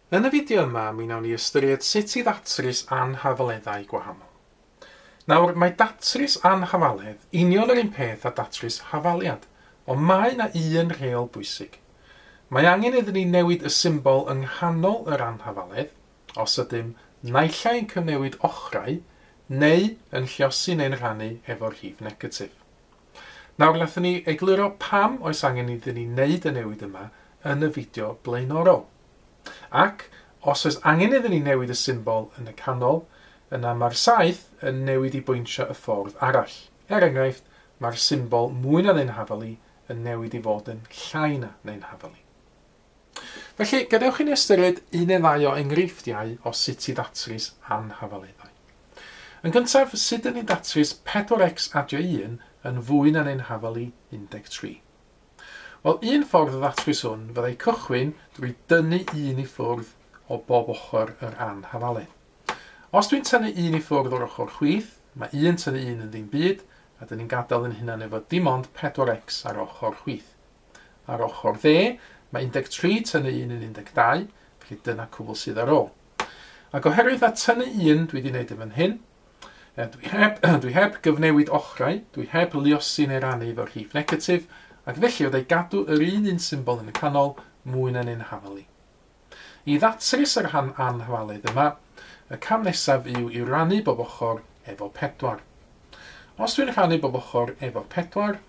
Yn y fideo yma, mi wnawn ni ystyried sut i ddatrys anhafaleddau gwahanol. Nawr, mae datrys anhafaledd union yr un peth â datrys hafaliad, ond mae yna un rheol bwysig. Mae angen iddyn ni newid y symbol yng nghanol yr anhafaledd, os ydym naill ai yn cyfnewid ochrau neu yn lluosi neu'n rhannu efo'r rhif negatif. Nawr nathon ni egluro pam oes angen iddyn ni wneud y newid yma yn y fideo blaenorol. Ac, os oes angen iddyn ni newid y symbol yn y canol, yna mae'r saeth yn newid i bointio y ffordd arall. Er enghraifft, mae'r symbol mwy na neu'n hafali yn newid i fod yn llai na neu'n hafali. Felly, gadewch i ni ystyried un neu ddau o enghreifftiau o sut i ddatrys anhafaleddau. Yn gyntaf, sut dŷn ni'n datrys 4x adio 1 yn fwy na'n ein hafal i 13? Wel, un ffordd o ddatrys hwn fyddai cychwyn drwy dynnu un i ffwrdd o bob ochr yr anhafaledd. Os dwi'n tynnu un i ffwrdd o'r ochr chwith, mae un tynnu un yn ddim byd, a dŷn ni'n gadael yn hunan efo dim ond 4x ar ochr chwith. Ar ochr dde, mae 13 tynnu 1 yn 12, felly dyna cwbl sydd ar ôl. Ac oherwydd na tynnu 1 dwi wedi gwneud yn fan hyn, e, dwi, heb, dwi heb gyfnewid ochrau, dwi heb liosi neu rannu efo rhif negatif, ac felly oedau gadw yr un un symbol yn y canol, mwy na'n un hafali. I ddatrys yr rhan anhafalaidd yma, y cam nesaf yw i rannu bob ochr efo 4. Os dwi'n rhannu bob ochr efo 4,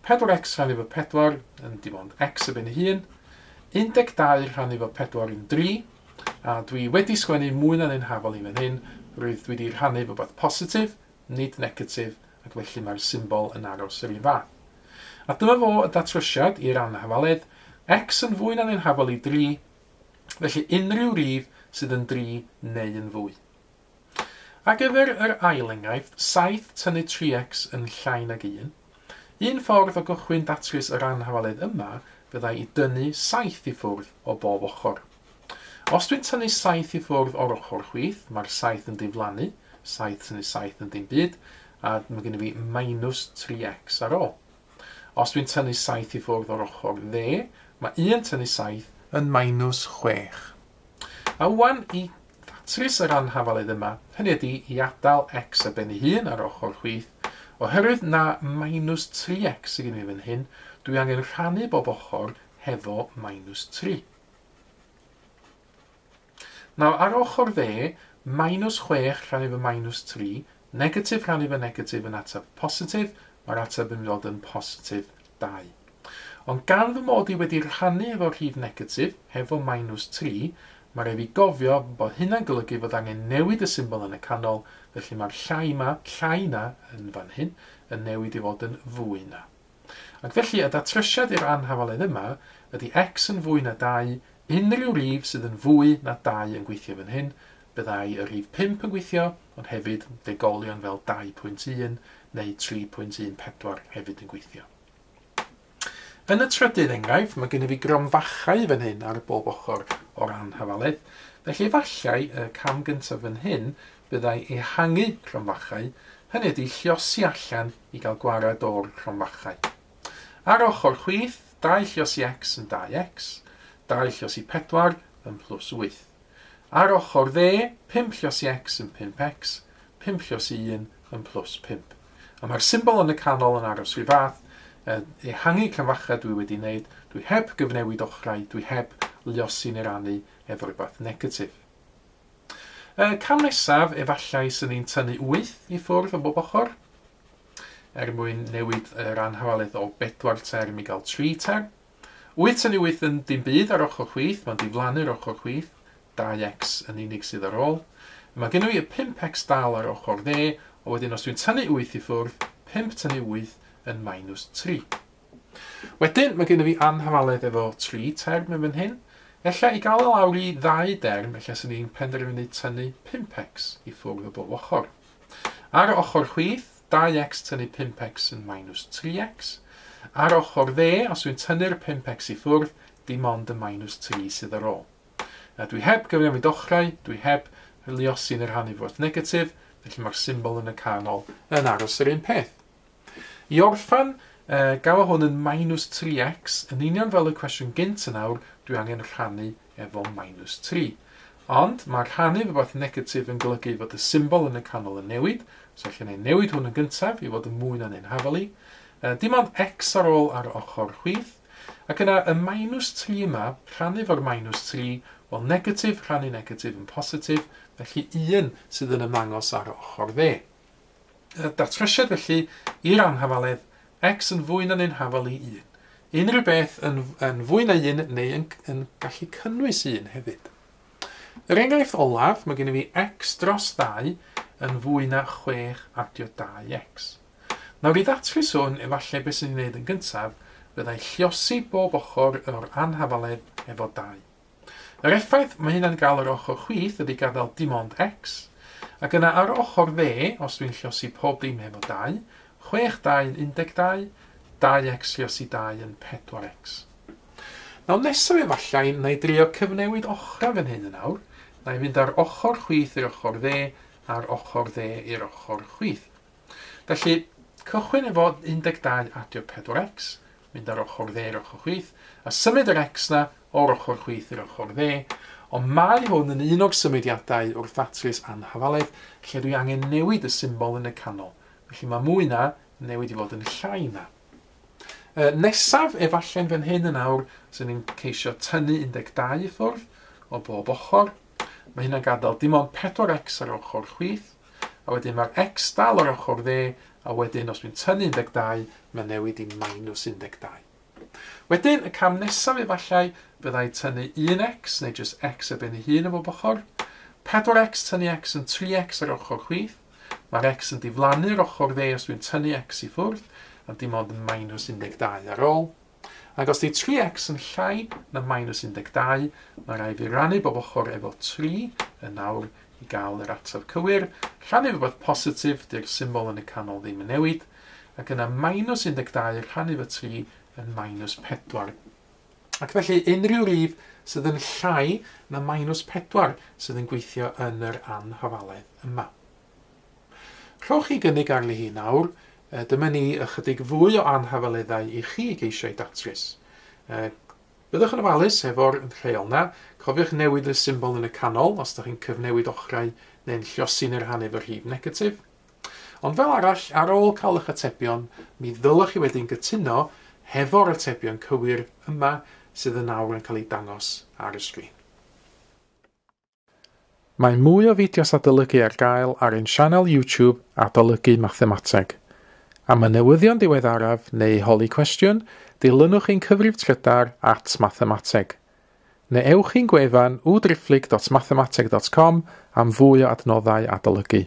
4x rhannu fo 4 yn dim ond x y ben ei hun, 12 rhannu fo 4 yn 3, a dwi wedi sgwennu mwy na un hafal i fan hyn, roedd dwi 'di rhannu fo beth positif, nid negatif, ac felly mae'r symbol yn aros yr un fath. A dyma fo y datrysiad i'r anhafaledd, x yn fwy na un hafal i 3, felly unrhyw rif sydd yn 3 neu yn fwy. Ar gyfer yr ail enghraifft, saith tynnu tri x yn llai nag un, un ffordd o gychwyn datrys yr anhafaledd yma fyddai i dynnu saith i ffwrdd o bob ochr. Os dwi'n tynnu saith i ffwrdd o'r ochr chwith, mae'r saith yn diflannu, saith tynnu saith yn dim byd, a mae gen i fi minus tri x ar ôl. Os dwi'n tynnu saith i ffwrdd o'r ochr dde, mae un tynnu saith yn minus chwech. A ŵan i ddatrys yr anhafaledd yma, hynny ydy i adael x ar ben ei hun ar ochr chwith, oherwydd na minus 3x sydd gen i fan hyn, dwi angen rhannu bob ochr hefo minus 3. Nawr, ar ochr dde, minus 6 rhannu fo minus 3, Negatif Rhannu fy negatif yn ateb positif, mae'r ateb yn mynd i fod yn positif 2. Ond gan fy mod i wedi rhannu efo rhif negatif, hefo minus 3, mae rhaid fi gofio bod hynna'n golygu fod angen newid y symbol yn y canol, felly mae'r llai 'ma, llai na, yn fan hyn, yn newid i fod yn fwy na. Ac felly y datrysiad i'r anhafaledd yma ydy X yn fwy na 2, unrhyw rif sydd yn fwy na 2 yn gweithio fan hyn, byddai y rif 5 yn gweithio, ond hefyd degolion fel 2.1 neu 3.14 hefyd yn gweithio. Yn y trydydd enghraifft, mae gennyf fi gronfachau fan hyn ar bob ochr o'r anhafaledd, felly efallai y cam gyntaf fan hyn byddai ehangu cronfachau, hynny ydy lliosi allan i gael gwared o'r cromfachau. Ar ochr chwith, dau llios i x yn 2x, dau llios i 4 yn plus 8. Ar ochr dde, 5 llios i x yn 5x, 5 llios i 1 yn plus 5. A mae'r symbol yn y canol yn aros rhy fath, ehangu cromfachau dwi wedi wneud, dwi heb gyfnewid ochrau, dwi heb liosi neu rannu efo rhywbeth negatif. Y cam nesaf efallai sy'n ein tynnu wyth i ffwrdd o bob ochr, er mwyn newid yr anhafaliaeth o bedwar term i gael tri term. Wyth tynnu wyth yn dim byd ar ochr chwith, mae'n diflannu'r ochr chwith, 2x yn unig sydd ar ôl. Mae gennym ni y 5x dal ar ochr dde, a wedyn os dwi'n tynnu wyth i ffwrdd, 5 tynnu wyth yn minus 3. Wedyn, mae gennyf fi anhafaledd efo tri term yn fan hyn. Ella i gael o lawr i ddau derm, ella 'swn i'n penderfynu tynnu pump X i ffwrdd o bob ochr. Ar y ochr chwith, dau X tynnu pump X yn minus tri X. Ar ochr dde, os dwi'n tynnu'r pump X i ffwrdd, dim ond y minus tri sydd ar ôl. A dwi heb gyfnewid ochrau, dwi heb luosi'n y rhan i fwrdd negatif, felly mae'r symbol yn y canol yn aros yr un peth. I orffen, gafa hwn yn minus 3x, yn union fel y cwestiwn gynt yn awr, dwi angen rhannu efo minus 3. Ond mae rhannu rhywbeth negatif yn golygu fod y symbol yn y canol yn newid, so allan ei newid hwn yn gyntaf i fod yn mwy na neu'n hafelu. Dim ond x ar ôl ar ochr chwith, ac yna y minus 3 yma, rhannu fo'r minus 3, wel negatif rhannu negatif yn positif, felly un sydd yn ymangos ar ochr dde. Datrysiad felly i'r anhafaledd, X yn fwy na neu'n hafal i 1. Unrhyw beth yn, yn fwy na 1 neu yn, yn gallu cynnwys 1 hefyd. Yr enghraifft olaf, mae gen i fi X dros 2 yn fwy na 6 adio 2X. Nawr i ddatrys hwn, efallai beth sy'n ei wneud yn gyntaf, fyddai lliosi bob ochr o'r anhafaledd efo 2. Yr effaith mae hynna'n gael ar ochr chwith ydy gadael dim ond X, ac yna ar ochr dde, os dwi'n llosi pob dim hefo 2, 6 2 yn 12, 2X llosi 2 yn 4X. Nawr nesaf efallai na i drio cyfnewid ochrau fan hyn yn awr, na i fynd ar ochr chwith i'r ochr dde, a'r ochr dde i'r ochr chwith. Felly, cychwyn efo 12 adio 4X, mynd ar ochr dde i'r ochr chwith, a symud yr X na o'r ochr chwith i'r ochr dde, ond mae hwn yn un o'r symudiadau wrth ddatrys anhafaledd lle dwi angen newid y symbol yn y canol, felly mae mwy na yn newid i fod yn llai na. E, nesaf, efallai'n fan hyn yn awr, sy'n ni'n ceisio tynnu 12 i ffwrdd o bob ochr. Mae hynna'n gadael dim ond 4x ar ochr chwith, a wedyn mae'r x dal ar ochr dde, a wedyn os dwi'n tynnu 12, mae'n newid i minus 12. Wedyn, y cam nesaf efallai fyddai tynnu 1x, neu jyst x ar ben ei hun o bob ochr. 4x, tynnu x yn 3x ar ochr chwith. Mae'r x yn diflannu ar ochr dde os dwi'n tynnu x i ffwrdd, a dim ond yn minus 12 ar ôl. Ac os di 3x yn llai na minus 12, mae rai fi rannu bob ochr efo 3 yn nawr i gael yr ateb cywir. Rhannu rhywbeth positif, di'r symbol yn y canol ddim yn newid. ac yna minus 12 rhannu fy 3 yn minus 4. Ac felly unrhyw rif sydd yn llai na minus 4 sydd yn gweithio yn yr anhafaledd yma. Rhowch chi gynnig arni hi nawr, e, dyma ni ychydig fwy o anhafaleddau i chi geisio ei datrys. E, byddwch yn ofalus efo'r rheol na, cofiwch newid y symbol yn y canol os da chi'n cyfnewid ochrau neu'n lliosi neu'r hannu fy rhif negatif. Ond fel arall, ar ôl cael eich atebion, mi ddylech chi wedyn gytuno hefo'r atebion cywir yma sydd yn awr yn cael eu dangos ar y sgrin. Mae mwy o fideos adolygu ar gael ar ein sianel YouTube Adolygu Mathemateg. Am y newyddion diweddaraf neu holi cwestiwn, dilynwch ein cyfrif trydar at Mathemateg. Neu ewch i'n gwefan www.driphlyg.mathemateg.com am fwy o adnoddau adolygu.